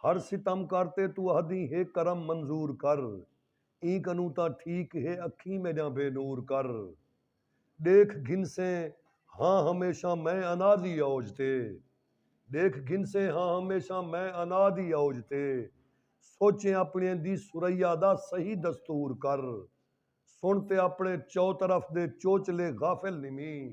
ہر ستم کر تے توں اہدیں ہے کرم منظور کر ایں کنوں تاں ٹھیک ہے اکھیں میݙیاں بے نور کر ݙیکھ گھنسیں ہاں ہمیشاں میں انا دی اوج تے ݙیکھ گھنسیں ہاں ہمیشاں میں انا دی اوج تے سوچیں اپݨیں دی ثریا دا صحیح دستور کر سݨ تے اپݨیں چوطرف دے چوچلے غافل نمیں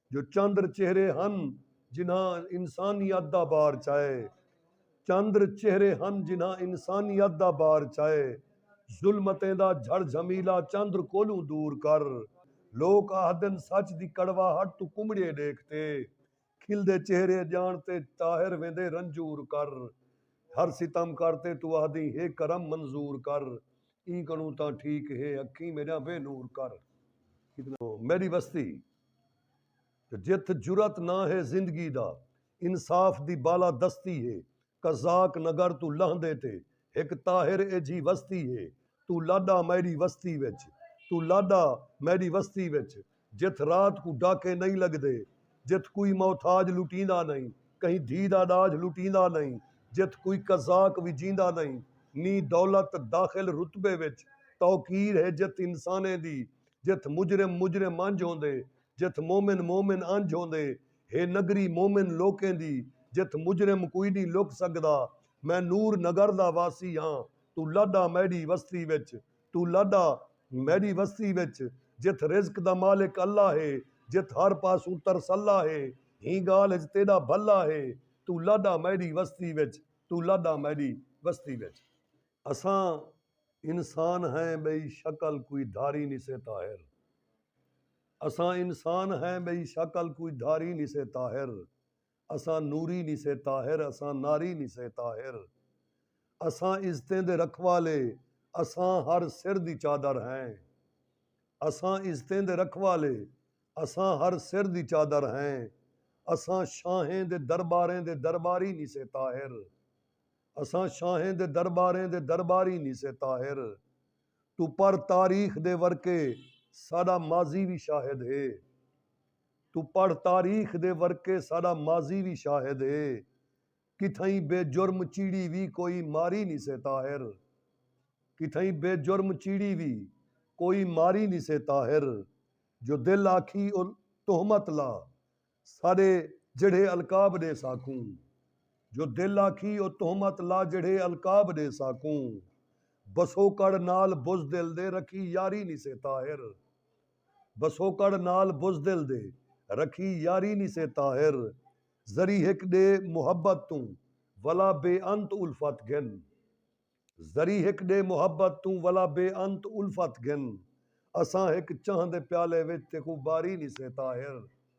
جو چندر چہرے ہن جنہاں انسانیت دا بار چائے چندر چہرے ہن جنہاں انسانیت دا بار چائے ظلمتیں دا جھڑ جھمیلا چندر کولوں دور کر لوک آہدن سچ دی کڑواہٹ توں کمڑیے ڈیکھ تے کھلدے چہرے ڄاݨ تے طاہر ویندے رنجور کر ہر ستم کر تے توں آہدیں ہے کرم منظور کر ایں کنوں تاں ٹھیک ہے اکھیں میݙیاں بے نور کر میݙی وستی۔ تے جتھ جرات نہ ہے زندگی دا انصاف دی بالا دستی ہے قزاق نگر توں لہندے تے ہک طاہر ایجھی وستی ہے توں لاڈا میڈی وستی وچ توں لاڈا میڈی وستی وچ جتھ رات کوں ڈاکے نئیں لگدے جتھ کوئی محتاج لٹیندا نئیں کہیں دھی دا ڈاجھ لٹیندا نئیں جتھ کوئی قزاق وجیندا نئیں نی دولت داخل رتبے وچ توقیر ہے جتھ انسانیں دی جتھ مجرم مجرم انجھ ہوندے جتھ مومن مومن انجھ ہوندے ہے نگری مومن لوکیں دی جتھ مجرم کوئی نی لک سگدا میں نور نگر دا واسی ہاں توں لڈ آ میڈی وستی وچ توں لڈ آ میڈی وستی وچ جتھ رزق دا مالک اللہ ہے جتھ ہر پاسوں ترس اللہ ہے ہیں گالھ اچ تیڈا بھلا ہے توں لڈ آ میڈی وستی وچ توں لڈ آ میڈی وستی وچ۔ اساں انسان ہیں ٻئی شکل کوئی دھاری نسے طاہر اساں انسان ہیں ٻئی شکل کوئی دھاری نسے طاہر اساں نوری نسے طاہر اساں ناری نسے طاہر اساں عزتیں دے رکھوالے اساں ہر سر دی چادر ہیں اساں عزتیں دے رکھوالے اساں ہر سر دی چادر ہیں اساں شاہیں دے درباریں دے درباری نسے طاہر اساں شاہیں دے درباریں دے درباری نی سے طاہر توں پڑھ تاریخ دے ورقے ساڈا ماضی وی شاہد ہے توں پڑھ تاریخ دے ورقے ساڈا ماضی وی شاہد ہے کتھائیں بے جرم چیڑی وی کوئی ماری نی سے طاہر کتھائیں بے جرم چیڑی وی کوئی ماری نی سے طاہر جو دل آکھی او تہمت لا ساݙے جیڑھے القاب ݙے ساکوں جو دل آکھی او تہمت لا جیڑھے القاب ݙے ساکوں بسوکڑ نال بزدل دے رکھی یاری نی سے طاہر بسوکڑ نال بزدل دے رکھی یاری نی سے طاہر ذری ہک ݙے محبت توں ولا بے انت الفت گھن ذری ہک ݙے محبت توں ولا بے انت الفت گھن اساں ہک چاہندے پیالے وچ تیکوں باری نی سے طاہر۔